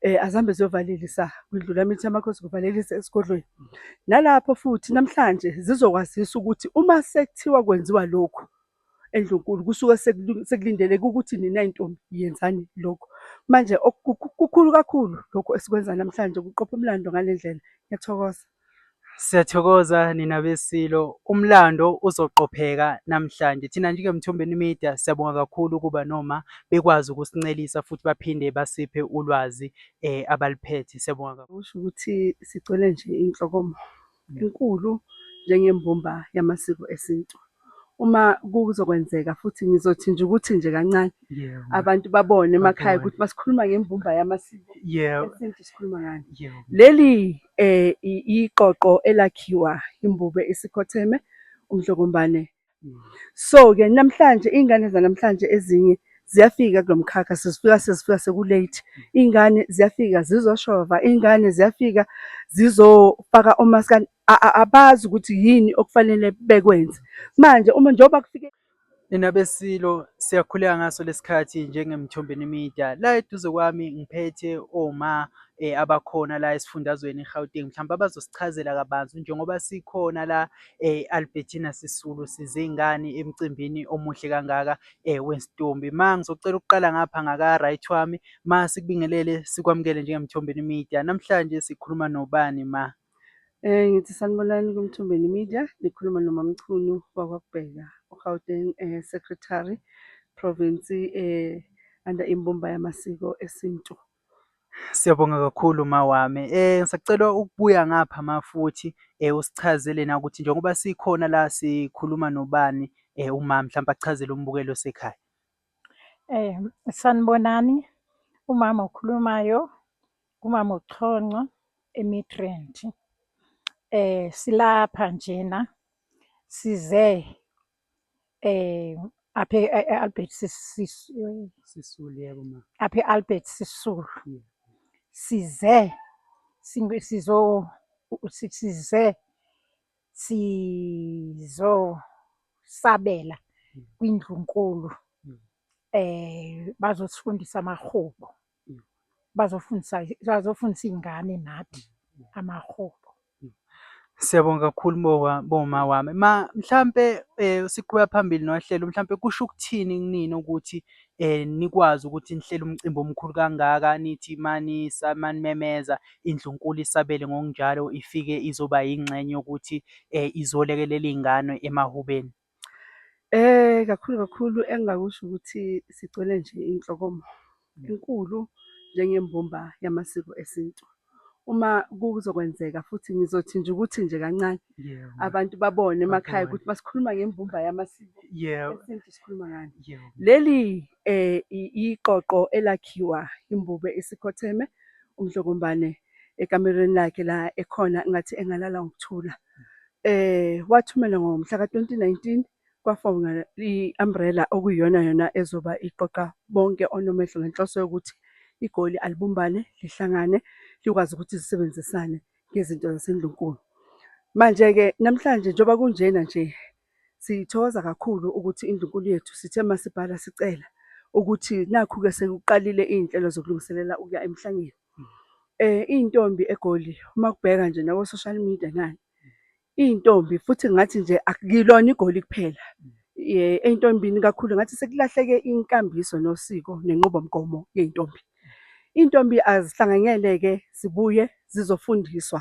eh azihambe ziyovalelisa kwindlula mithi yamakhosi kuvalelisa esigodlweni nalapho futhi namhlanje zizokwazisa ukuthi uma sekuthiwa kwenziwa lokhu endlunkulu kusuke sekulindeleke ukuthi nina intombi yenzani lokho manje kukhulu kakhulu lokho esikwenza namhlanje kuqopha umlando ngalendlela ngiyathokoza Siyathokoza nina beSilo. Umlando uzoqopheka namhlanje. Thina njengeMthombeni Media siyabonga kakhulu ukuba noma bekwazi ukusincelisa futhi baphinde basiphe ulwazi eh abaliphethe. Siyabonga kakhulu. Usho ukuthi sigcwele nje inhlokomo enkulu njengembumba yamasiko esintu. uma kuzokwenzeka futhi ngizothi nje ukuthi nje kancane abantu babone emakhaya ukuthi masikhuluma ngembumba yamasiko esintu sikhuluma ngani leli eh iqoqo elakhiwa imbube isikhotheme umdlokombane mm. so ke namhlanje ingane zanamhlanje ezinye ziyafika kulomkhakha sizifika sizifika sekulate ingane ziyafika zizoshova ingane ziyafika zizofaka omaskani abazi ukuthi yini okufanele bekwenze manje uma njengoba kufike Nina beSilo siyakhuleka ngaso lesikhathi njengeMthombeni Media. La eduze kwami ngiphethe oma eh, abakhona la esifundazweni iGauteng mhlawumbe abazosichazela kabanzi njengoba sikhona la eh, Albertina Sisulu sizingane emcimbini omuhle kangaka eh, wensitombi. Ma ngizocela ukuqala ngapha ngaka right wami ma sikubingelele sikwamukele njengeMthombeni Media. Namhlanje sikhuluma nobani ma? Eh ngithi sanibonani kuMthombeni Media nikhuluma noMamchunu wakwaKubheka uGauteng eh, Secretary Province eh under imbumba yamasiko esintu. Siyabonga kakhulu mawami. Eh ngisacela ukubuya ngapha mafuthi eh usichazele na ukuthi njengoba sikhona la sikhuluma nobani eh uma mhlawumbe achazele umbukelo sekhaya. Eh sanibonani umama okhulumayo Umama uChonco eMidrand. Eh silapha njena size eh apha e-Albert Sisulu. Sisulu yebo ma. Apha e-Albert Sisulu. Yeah. Size singe- sizo si- size sizosabela kwindlunkulu Mm. eh bazosifundisa amahubo. bazofundisa bazofundisa iy'ngane nathi amahobo. Siyabonga kakhulu boma wami. Ma mhlampe eh, siqhuba phambili nohlelo mhlampe kusho ukuthini kunini ukuthi eh nikwazi ukuthi nihlele umcimbi omkhulu kangaka nithi mani samanimemeza indlunkulu isabele ngokunjalo ifike izoba yingxenye yokuthi eh izolekelela izingane emahubeni. Kakhulu kakhulu engingakusho ukuthi sigcwele nje inhlokomo enkulu njengembumba yamasiko esintu. Uma kuzokwenzeka futhi ngizothi nje ukuthi nje kancane abantu babone emakhaya ukuthi masikhuluma ngembumba yamasiko esintu sikhuluma ngani. Leli iqoqo elakhiwa imbube isikhotheme uMdlokombane ekamerweni lakhe la ekhona engathi engalala ngokuthula. eh wathumela ngomhla ka-2019 kwafonga i-umbrella okuyiyona yona ezoba iqoqa bonke onomehlo ngenhloso yokuthi igoli alibumbane lihlangane likwazi ukuthi zisebenzisane ngezinto zasendlunkulu manje-ke namhlanje njengoba kunjena nje sithokoza kakhulu ukuthi indlunkulu yethu sithe masibhala sicela ukuthi nakhu-ke sekuqalile iy'nhlelo zokulungiselela ukuya emhlangeni Iy'ntombi eGoli uma kubheka nje nako-social media ngani, iy'ntombi futhi ngathi nje akulona iGoli kuphela. Ey'ntombini kakhulu ngathi sekulahleke inkambiso nosiko nenqubomgomo yey'ntombi. Iy'ntombi azihlanganyele-ke zibuye zizofundiswa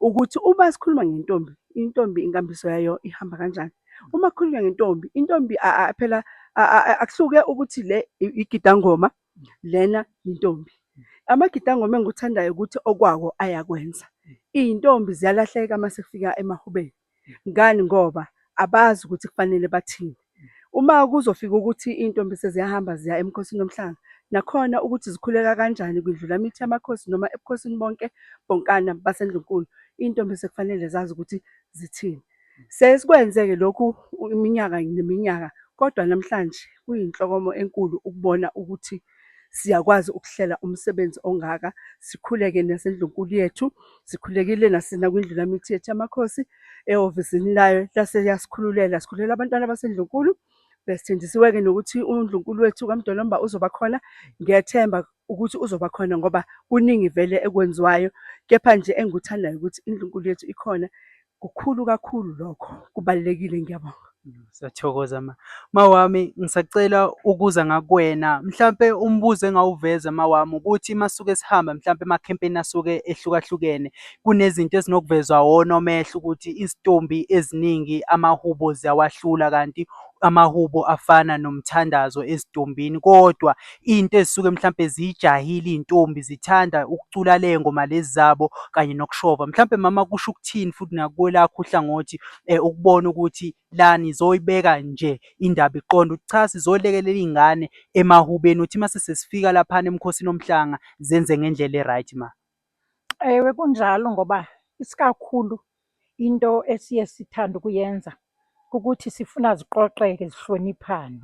ukuthi uma sikhuluma ngentombi, intombi inkambiso yayo ihamba kanjani. Uma kukhulunywa ngentombi, intombi phela akuhluke ukuthi le igidangoma Lena yintombi. Amagidi angoma engikuthandayo ukuthi okwawo ayakwenza. Iy'ntombi ziyalahleka uma sekufika emahubeni. Ngani? Ngoba abazi ukuthi kufanele bathini. Uma kuzofika ukuthi iy'ntombi seziyahamba ziya eMkhosini woMhlanga, nakhona ukuthi zikhuleka kanjani kwindlulamithi yamakhosi noma ebukhosini bonke bonkana baseNdlunkulu, iy'ntombi sekufanele zazi ukuthi zithini. Siyaye sikwenze-ke lokhu iminyaka neminyaka kodwa namhlanje kuyinhlokomo enkulu ukubona ukuthi siyakwazi ukuhlela umsebenzi ongaka sikhuleke nasendlunkulu yethu sikhulekile nasenakwindlu lamithi yethu yamakhosi ehhovisini layo lase yasikhululela sikhulela abantwana basendlunkulu besithenjisiwe-ke nokuthi undlunkulu wethu kamdolomba uzoba khona ngiyethemba ukuthi uzoba khona ngoba kuningi vele ekwenziwayo kepha nje engikuthandayo ukuthi indlunkulu yethu ikhona Kukhulu kakhulu lokho, kubalulekile ngiyabonga. Siyathokoza ma. Mawami ngisacela ukuza ngakuwena. Mhlampe umbuzo engawuveza mawami ukuthi masuke sihamba mhlampe emakhempeni asuke ehlukahlukene kunezinto ezinokuvezwa wona omehlo ukuthi izitombi eziningi amahubo ziyawahlula kanti amahubo afana nomthandazo ezintombini kodwa into ezisuke mhlampe ziyijahile iy'ntombi zithanda ukucula ley'ngoma lezi zabo kanye nokushova. Mhlampe mama kusho ukuthini futhi nakwelakho uhlangothi ukubona ukuthi la nizoyibeka nje indaba iqonde ukuthi cha sizolekelela iy'ngane emahubeni ukuthi mase sesifika laphana eMkhosini woMhlanga zenze ngendlela e-right ma. Ewe, kunjalo ngoba isikakhulu into esiye sithande ukuyenza kukuthi sifuna ziqoqeke zihloniphane,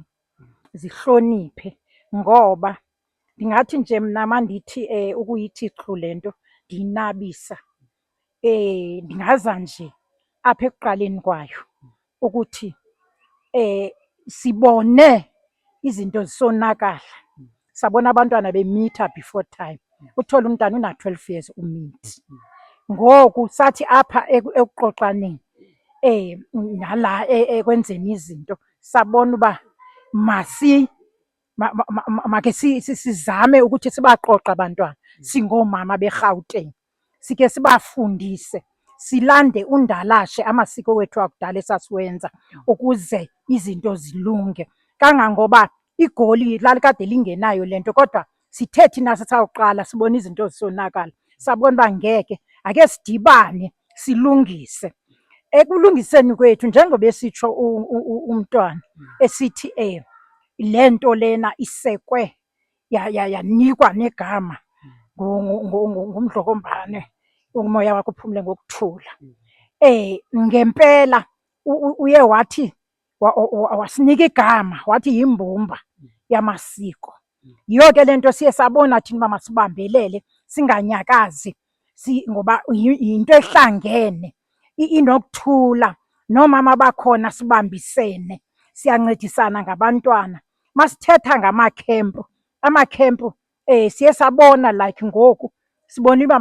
zihloniphe. Ngoba ndingathi nje mna uma ndithi ukuyithi xhu le nto ndiyinabisa ndingaza nje apha ekuqaleni kwayo. ukuthi sibone izinto zisonakala, sabona abantwana bemitha before time. Uthole umntana una-twelve years umithi. Ngoku sathi apha ekuxoxaneni nala ekwenzeni izinto sabona uba makhe sizame ukuthi sibaqoqe abantwana singoomama beRhawutini. sike sibafundise silande undalashe amasiko wethu akudala esasiwenza ukuze izinto zilunge kangangoba igoli lalikade lingenayo lento kodwa sithe thina sisawuqala sibona izinto zisonakala sabona uba ngeke ake sidibane silungise ekulungiseni kwethu njengoba esitsho umntwana esithi eh lento lena isekwe yanikwa negama ngumdlokombane umoya wakho uphumule ngokuthula eh ngempela uye wathi wasinika igama wathi yimbumba yamasiko yiyo ke lento siye sabona thina uba masibambelele singanyakazi si ngoba yinto ehlangene inokuthula nomama bakhona sibambisene siyancedisana ngabantwana masithetha ngamakhempu amakhempu eh siye sabona like ngoku sibona uba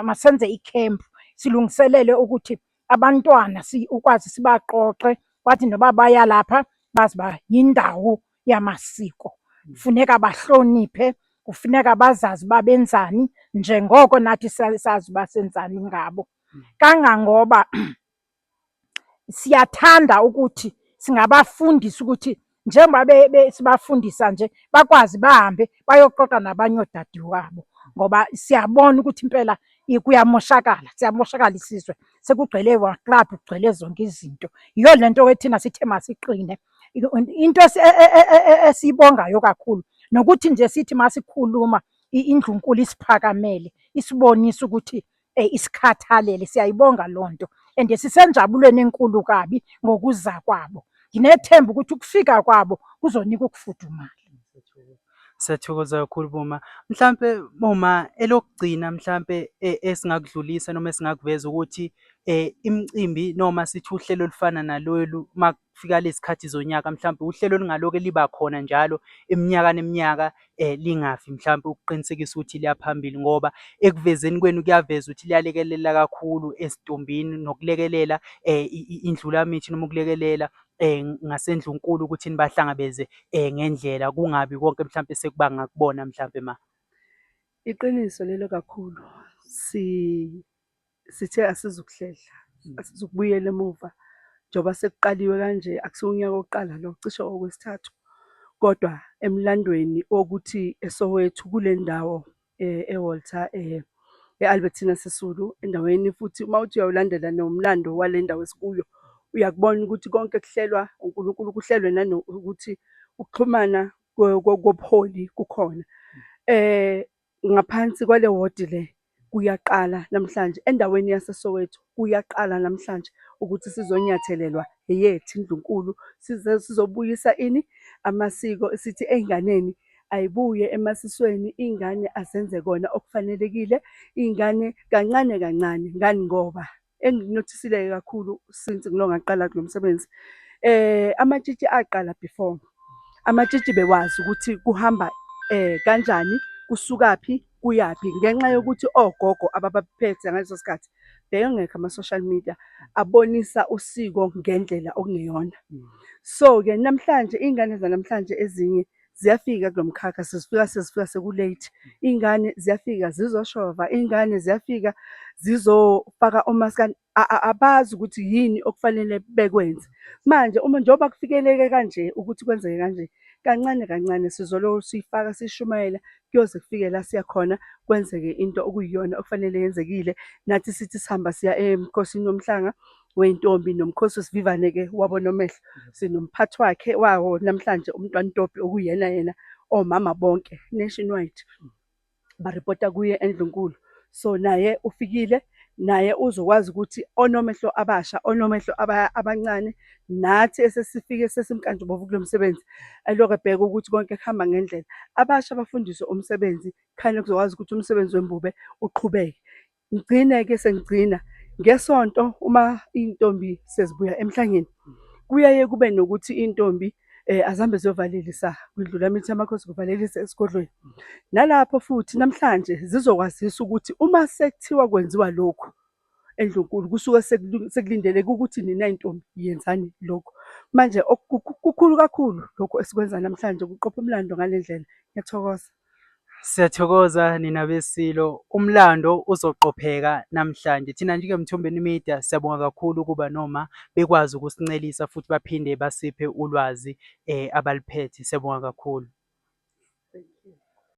masenze ikhempu silungiselele ukuthi abantwana ukwazi sibaqoqe bathi noba baya lapha bazi uba yindawo yamasiko funeka bahloniphe kufuneka bazazi uba benzani njengoko nathi sazi uba senzani ngabo kangangoba siyathanda ukuthi singabafundisa ukuthi njengoba sibafundisa nje bakwazi bahambe bayoxoxa nabanye odadewabo ngoba siyabona ukuthi impela kuyamoshakala siyamoshakala isizwe sekugcwele waklabhu kugcwele zonke izinto yiyo le nto ethina sithe masiqine into e, e, e, esiyibongayo kakhulu nokuthi nje sithi masikhuluma indlunkulu isiphakamele isibonisa ukuthi eh, isikhathalele siyayibonga loo nto and sisenjabulweni enkulu kabi ngokuza kwabo nginethemba ukuthi ukufika kwabo kuzonika ukufudumala Siyathokoza kakhulu Boma. Mhlampe Boma elokugcina mhlampe e, esingakudlulisa noma esingakuveza ukuthi eh, imicimbi noma sithi uhlelo olufana nalolu kufika lezikhathi zonyaka mhlawumbe uhlelo olungaloke liba khona njalo iminyaka neminyaka eh lingafi mhlawumbe ukuqinisekisa ukuthi liya phambili ngoba ekuvezeni kwenu kuyaveza ukuthi liyalekelela kakhulu esitombini nokulekelela eh indlulamithi noma ukulekelela eh ngasendlunkulu ukuthi nibahlangabeze eh ngendlela kungabi konke mhlawumbe sekubanga kubona mhlawumbe ma iqiniso lelo kakhulu si sithe asizukuhlehla mm. asizukubuyela emuva njengoba sekuqaliwe kanje akusiwo unyaka wokuqala lo cishe okwesithathu kodwa emlandweni wokuthi esowethu kule ndawo eh, ewalter um eh, e-albertina sisulu endaweni futhi uma uthi uyawulandela nomlando wale ndawo esikuyo uyakubona ukuthi konke kuhlelwa unkulunkulu kuhlelwe nanokuthi ukuxhumana kobuholi kukhona um Ngaphansi kwale wodi le kuyaqala namhlanje endaweni yaseSoweto kuyaqala namhlanje ukuthi sizonyathelelwa eyethi indlunkulu size sizobuyisa ini amasiko sithi ey'nganeni ayibuye emasisweni iy'ngane azenze kona okufanelekile iy'ngane kancane kancane ngani ngoba engikunothisile-ke kakhulu since ngilo ngaqala kulo msebenzi um amatshitshi aqala before amatshitshi bewazi ukuthi kuhamba um kanjani kusukaphi kuyaphi ngenxa yokuthi ogogo ababaphethe ngaleso sikhathi beyongekho ama-social media abonisa usiko ngendlela okungeyona so-ke namhlanje iy'ngane zanamhlanje ezinye ziyafika kulo mkhakha sezifika sezifika sekulate iy'ngane ziyafika zizoshova iy'ngane ziyafika zizofaka omaskani abazi ukuthi yini okufanele bekwenze manje uma njengoba kufikeleke kanje ukuthi kwenzeke kanje kancane kancane sizoloko siyifaka sishumayela kuyoze kufike la siya khona kwenzeke into okuyiyona okufanele yenzekile nathi sithi sihamba siya emkhosini womhlanga Weyintombi nomkhosi usivivane ke wabo nomehlo sinomphathi wakhe wawo namhlanje umntwana Ntopi okuyena yena omama bonke nationwide baripota kuye endlunkulu so naye ufikile naye uzokwazi ukuthi onomehlo abasha onomehlo aba- abancane nathi esesifike sesimkantshubovu kulo msebenzi elokhu ebheka ukuthi konke kuhamba ngendlela abasha bafundiswe umsebenzi khane kuzokwazi ukuthi umsebenzi wembube uqhubeke Ngigcine-ke sengigcina ngesonto uma iy'ntombi sezibuya emhlangeni kuyaye kube nokuthi iy'ntombi um eh, azihambe ziyovalelisa kwindlula mithi amakhosi kuvalelisa esigodlweni nalapho futhi namhlanje zizokwazisa ukuthi uma sekuthiwa kwenziwa lokhu endlunkulu kusuke sekulindeleke ukuthi nina intombi yenzani lokhu manje kukhulu kakhulu lokhu esikwenza namhlanje kuqopha umlando ngale ndlela ngiyathokoza Siyathokoza nina beSilo. Umlando uzoqopheka namhlanje. Thina njengeMthombeni Media siyabonga kakhulu ukuba noma bekwazi ukusincelisa futhi baphinde basiphe ulwazi eh abaliphethe. Siyabonga kakhulu.